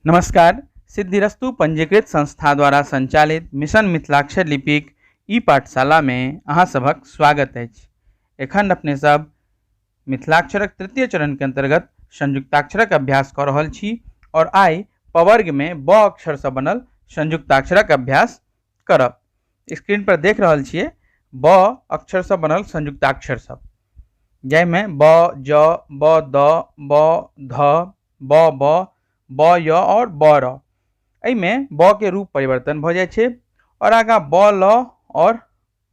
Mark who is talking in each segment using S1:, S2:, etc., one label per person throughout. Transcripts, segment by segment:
S1: नमस्कार सिद्धिरस्तु पंजीकृत संस्था द्वारा संचालित मिशन मिथिलाक्षर लिपिक ई पाठशाला में अहाँ सभक स्वागत अछि एखन अपने सब मिथिलाक्षरक तृतीय चरण के अंतर्गत संयुक्ताक्षरक अभ्यास कऽ रहल छी और आइ पवर्ग में ब अक्षर से बनल संयुक्ताक्षरक अभ्यास करब स्क्रीन पर देख रहल छियै ब अक्षर से बनल संयुक्ताक्षर सब जाहिमे ब ज ब द ब ध ब ब ब य और ब र एहिमे ब के रूप परिवर्तन भ जाइ छै और आगा ब ल और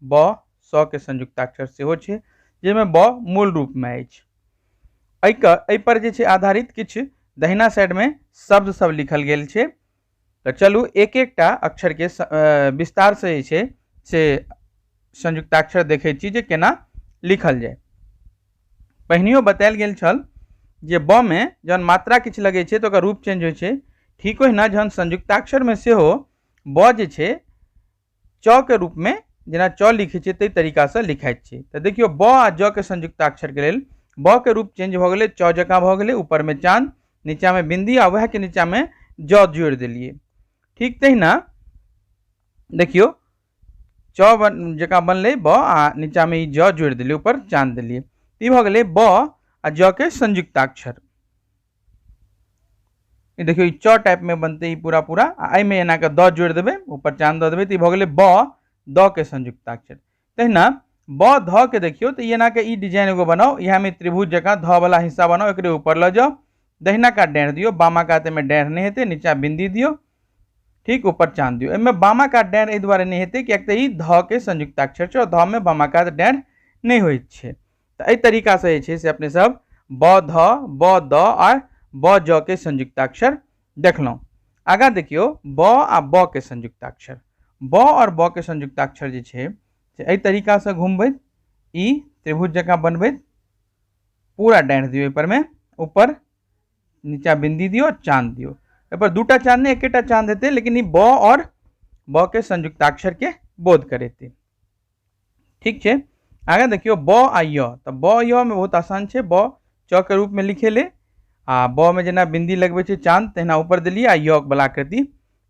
S1: ब स के संयुक्ताक्षर सेहो छै जाहिमे ब मूल रूप में अछि एहिके एहिपर जे छै आधारित किछु दहिना साइडमे शब्द सब लिखल गेल छै तऽ चलू एक एकटा अक्षरके स- अ, विस्तारसँ जे छै से संयुक्ताक्षर देखै छी जे केना लिखल जाय पहिनियो बतायल गेल छल जे ब मे जहन मात्रा किछु लगै छै तऽ ओकर रूप चेंज होइ छै ठीक ओहिना जहन संयुक्ताक्षरमे सेहो ब जे छै च के रूप में जेना च लिखै छियै ताहि तरीका से लिखाइत छै तऽ देखियौ ब आ ज के संयुक्ताक्षर के लेल ब के रूप चेंज भऽ गेलै च जकाँ भऽ गेलै ऊपर में चांद नीचा में बिंदी आ वएह के नीचा में ज जोड़ि देलियै ठीक तहिना देखियौ च बन जकाँ बनलै ब आ नीचा में ई ज जोड़ि देलियै ऊपर चांद देलियै ई भऽ गेलै ब आ ज के संयुक्ताक्षर ई देखियौ ई च टाइप में बनते ई पूरा पूरा आ एहि में एना के द जोड़ देबे ऊपर चांद द देबे तो ई भ गेले ब द के संयुक्ताक्षर तहिना ब ध के देखियो तो एना के ई डिजाइन एगो बनाओ यहाँ में त्रिभुज जगह ध वाला हिस्सा बनाओ एक ऊपर ल जाओ दहिना का डेढ़ दियो बामा का में डेढ़ नहीं हेते नीचा बिंदी दियो ठीक ऊपर चांद दियो एमे बामा का डेढ़ एहि दुआरे नहीं हेते कि एक तो ई ध के संयुक्ताक्षर छो ध में बामा का डेढ़ नहीं होइत छे तऽ एहि तरीकासँ जे छै से अपने सब ब ध ब द आ ब ज के संयुक्ताक्षर देखलहुँ आगाँ देखियौ ब आ ब के संयुक्ताक्षर ब आओर ब के संयुक्ताक्षर जे छै से एहि तरीकासँ घुमबैत ई त्रिभुज जकाँ बनबैत पूरा डाँढ़ि दियौ एहिपरमे ऊपर नीचा बिन्दी दियौ चाँद दियौ एहिपर दूटा चाँद नहि एकेटा चाँद हेतै लेकिन ई ब आओर ब के संयुक्ताक्षरके बोध करेतै ठीक छै आगे देखियो ब आ य तऽ ब य में बहुत आसान छै ब च के रूप में लिखे ले आ ब में जेना बिंदी लगबे छै चांद तहिना ऊपर देलिए आ य वाला आकृति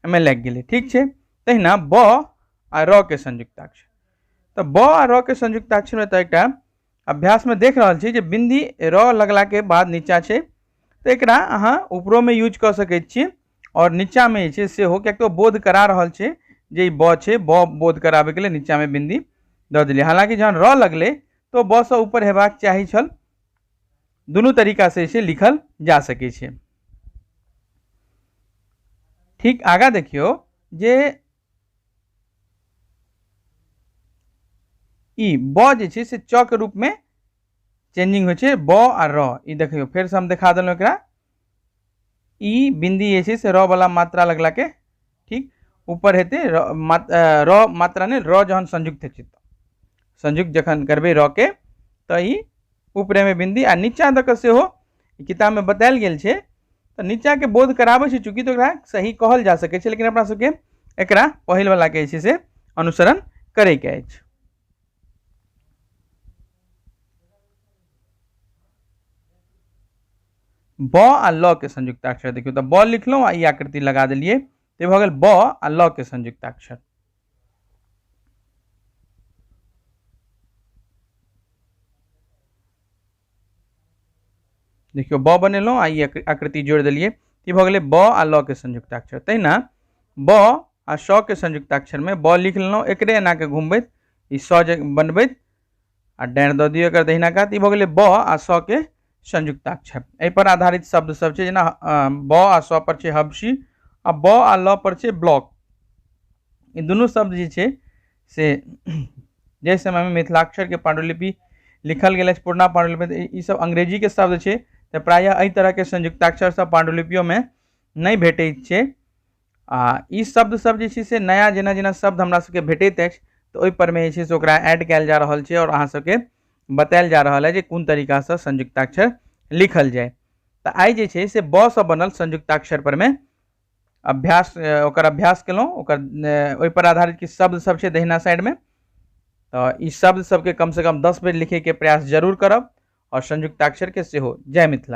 S1: में लग गए ठीक छै तहिना ब आ र के संयुक्ताक्षर तऽ ब आ र के संयुक्ताक्षर में तऽ एकटा अभ्यास में देख रहा छी जे बिंदी र लगला के बाद नीचा छै तऽ एकरा अहाँ ऊपरो में यूज कऽ सकैत छी आओर नीचाँमे जे छै से हो किएक तऽ ओ बोध करा रहल छै जे ई ब छै ब बोध कराबैके लेल नीचाँमे बिन्दी दऽ देलियै हालाँकि जहन र लगलै तऽ ओ ब सँ ऊपर हेबाक चाही छल दुनू तरीकासँ जे छै लिखल जा सकै छै ठीक आगाँ देखियौ जे ई ब जे छै से च के रूपमे चेंजिंग होइ छै ब आ र ई देखियौ फेरसँ हम देखा देलहुँ एकरा ई बिन्दी जे छै से रऽ बला मात्रा लगलाके ठीक ऊपर हेतै र मात रऽ मात्रा नहि रऽ जहन संयुक्त हेतै तऽ संयुक्त जखन करबै रऽ के तऽ ई ऊपरेमे बिन्दी आ नीचाँ दऽ कऽ सेहो किताबमे बतायल गेल छै तऽ नीचाँके बोध कराबै छै चूँकि तऽ ओकरा सही कहल जा सकै छै लेकिन अपना सबके एकरा पहिल बलाके जे छै से अनुसरण करैके अछि ब आ ल के संयुक्ताक्षर देखियौ तऽ ब लिखलहुँ आ ई आकृति लगा देलियै तऽ भऽ गेल ब आ ल के संयुक्ताक्षर देखियौ ब बनेलहुँ आ ई आकृति जोड़ि देलियै ई भऽ गेलै ब आ ल के संयुक्ताक्षर तहिना ब आ स के संयुक्ताक्षरमे ब लिख लेलहुँ एकरे एनाके घुमबैत ई स जे बनबैत आ डैन दऽ दियौ एकर दहिना कात ई भऽ गेलै ब आ स के संयुक्ताक्षर एहिपर आधारित शब्द सब छै जेना ब आ स पर छै हबसी आ ब आ ल पर छै ब्लॉक ई दुनू शब्द जे छै से जाहि समयमे मिथिलाक्षरके पांडुलिपि लिखल गेल अछि पुरना पांडुलिपि तऽ ई सब अंग्रेजीके शब्द छै तऽ प्रायः एहि तरहके संयुक्ताक्षर सब पांडुलिपियोमे नहि भेटैत छै आ ई शब्द सब जे छै से नया जेना जेना शब्द हमरा सबके भेटैत अछि तऽ ओहि पर मे जे छै से ओकरा ऐड कयल जा रहल छै आओर अहाँ सबके बतायल जा रहल है जे कोन तरीका से संयुक्ताक्षर लिखल जाय तऽ आइ जे छै से ब से बनल संयुक्ताक्षर पर मे अभ्यास अ, ओकर अभ्यास केलहुँ ओकर अ, ओहि पर आधारित किछु शब्द सब छै दहिना साइड मे तऽ ई शब्द सबके कम से कम दस बेर लिखैके प्रयास जरूर करब आओर संयुक्ताक्षर के सेहो जय मिथिला